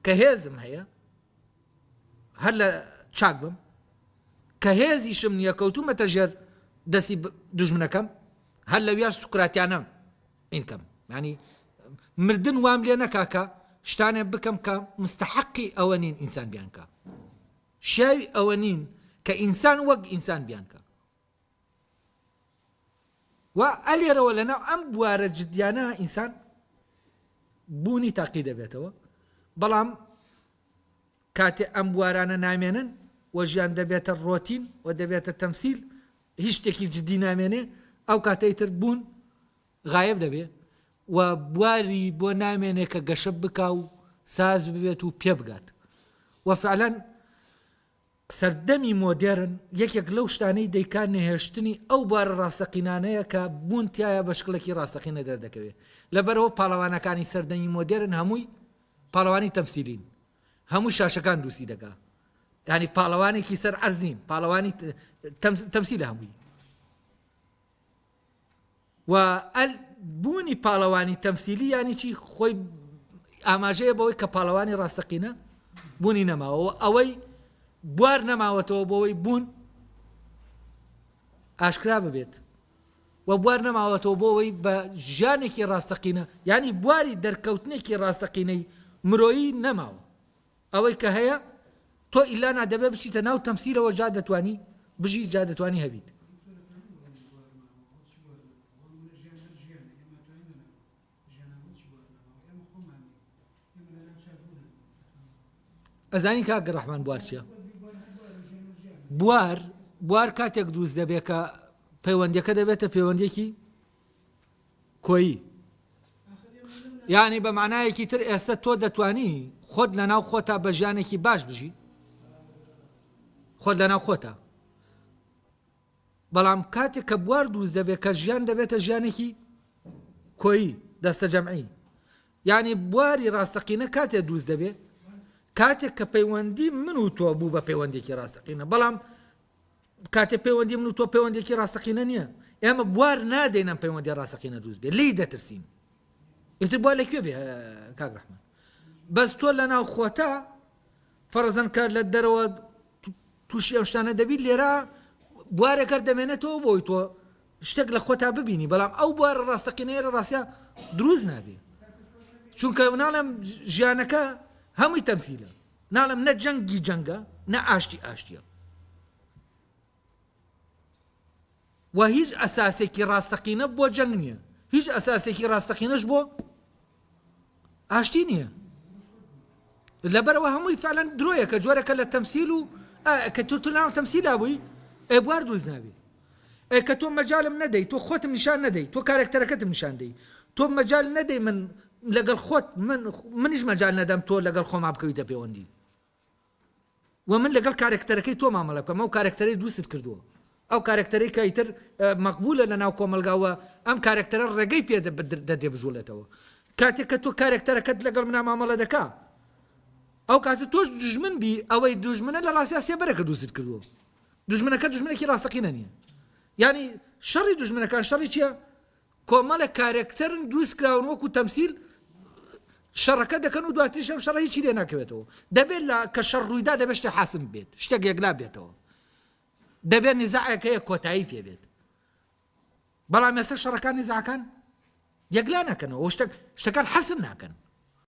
A: کە هێزم هەیە هەر لە چاک بم کە هێزیشم نیە کەوتومەتە ژێر دەسی دوژمنەکەم هەر لەویا سوکراتیانە ئینکەم ینی مردن وام لێ نەکاکە شتانێ بکەم کە مستحقی ئەوە نین ئینسان بیانکە شاوی ئەوە نین کە ئینسان وەک ئینسان بیانکە و ئە لێرەوە لە ناو ئەم بوارە جدیانە ئینسان بوونی تاقی دەبێتەوە بەڵام کاتێ ئەم بوارانە نامێنن و ژیان دەبێتە ڕۆتین و دەبێتە تەمسیل هیچ شتێکی جدی نامێنێ ئەو کاتەی تر بوون غایب دەبێ و بواری بۆ نامێنێ کە گەشە بکا و ساز ببێت و پێ بگات و فعلەن سەردەمی مۆدێرن یەکێک لەو شتانەی دەیکا نەهێشتنی ئەو بوارە ڕاستەقینانەیە کە بوون تیایا بە شکڵێکی ڕاستەقینە دەردەکەوێ لەبەرئەوە پاڵەوانەکانی سەردەمی مۆدێرن هەمووی پاڵەوانی تەمسیلین هەمووی شاشەکان دووسی دەکا یعنی پاڵەوانێکی سەر عەرزین پاڵەوانی تەمسیلە هەمووی و ئەل بوونی پاڵەوانی تەمسیلی یانی چی خۆی ئاماژەیە بەوەی کە پاڵەوانی ڕاستەقینە بوونی نەماوە ئەوەی بوار نەماوەتەوە بۆەوەی بوون ئاشکرا ببێت و بوار نەماوەتەوە بۆەوەی بە ژیانێکی ڕاستەقینە ینی بواری دەرکەوتنێکی ڕاستەقینەی مرۆیی نەماوە ئەوەی کە هەیە تۆ ئیلا نا دەبێت بچیتە ناو تەمسیلەوە جا دەتوانی بژی جا دەتوانی هەبیت. ئەزانی کاک ڕەحمان بوار چیە بوار بوار کاتێک دروست دەبێت کە پەیوەندەکە دەبێتە پەیوەندێکی کۆیی یانی بە مانایەکی تر ئێستە تۆ دەتوانی خۆت لەناو خۆتا بە ژیانێکی باش بژی خۆت لەناو خۆتا بەڵام کاتێک کە بوار دروست دەبێت کە ژیان دەبێتە ژیانێکی کۆیی دەستە جەمعی یعنی بواری ڕاستەقینە کاتێ دروست دەبێت کاتێک کە پەیوەندی من و تۆ بوو بە پەیوەندێکی ڕاستەقینە بەڵام کاتێ پەیوەندی من و تۆ پەیوەندیەکی ڕاستەقینە نیە ئێمە بوار نادەین ئەم پەیوەندی ڕاستەقینە دروست بێ لی دەترسین ئیتر بوار لەکوێ بێ کاک ڕحمان بەس تۆ لە ناو خۆتە فەرزەن کار لە دەرەوە تووشی ئەو شتانە دەبیت لێرە بوارێکەر دەمێنێتەوە بۆی تۆ شتێک لە خۆتا ببینی بەڵام ئەو بوار ڕاستەقینەیەرە ڕاستە دروست نابێ چونکە مناڵم ژیانەکە هەمووی تەمسیلە ناڵێم نە جەنگی جەنگە نە ئاشتی ئاشتیە و هیچ ئەساسێکی ڕاستەقینە بۆ جەنگ نییە هیچ ئەساسێکی ڕاستەقینەش بۆ ئاشتی نییە لەبەرەوە هەمووی فعلەن درۆیەکە جۆرەکە لە تەمسیل و کە تورتلان تەمسیلا بووی ئەبوار دروست نابی ئێ کە تۆ مەجالم نەدەی تۆ خۆتم نیشان نەدەی تۆ کارەکتەرەکەتم نیشان دەی تۆ مەجال نەدەی من لەگەڵ خۆت من منیش مەجال نەدەم تۆ لەگەڵ خۆما بکەویتە پێوەندی و من لەگەڵ کارەکتەرەکەی تۆ مامەڵە بکەم ئەو کارەکتەرەی دووست کردووە ئەو کارەکتەرەی کە ئیتر مەقبولە لە ناو کۆمەلگاوە ئەم کارەکتەرە ڕێگەی پێ دەدێ بژوڵێتەوە کاتێک کە تۆ کارەکتەرەکەت لەگەڵ منا مامەڵە دەکا ئەو کاتە تۆش دژمن بی ئەوەی دژمنە لە ڕاستیا سێبەرەکە دووست کردووە دوژمنەکە دوژمنێکی ڕاستەقینە نییە یعنی شەڕی دوژمنەکان شەڕی چییە کۆمەڵە کارەکتەرن دروست کراون وەکو تەمسیل شەڕەکە دەکەن و دواتیش ئەم شەڕی چی لێ ناکەوێتەوە دەبێت لە کە شەڕ ڕوویدا دەبێت شتێ حاسم بێت شتێک یەکلا بێتەوە دەبێت نزاعەکەیە کۆتایی پێ بێت بەڵام مێستا شەڕەکانی زاکان یەکلا ناکەنەوە شتەکان حەسم ناکەن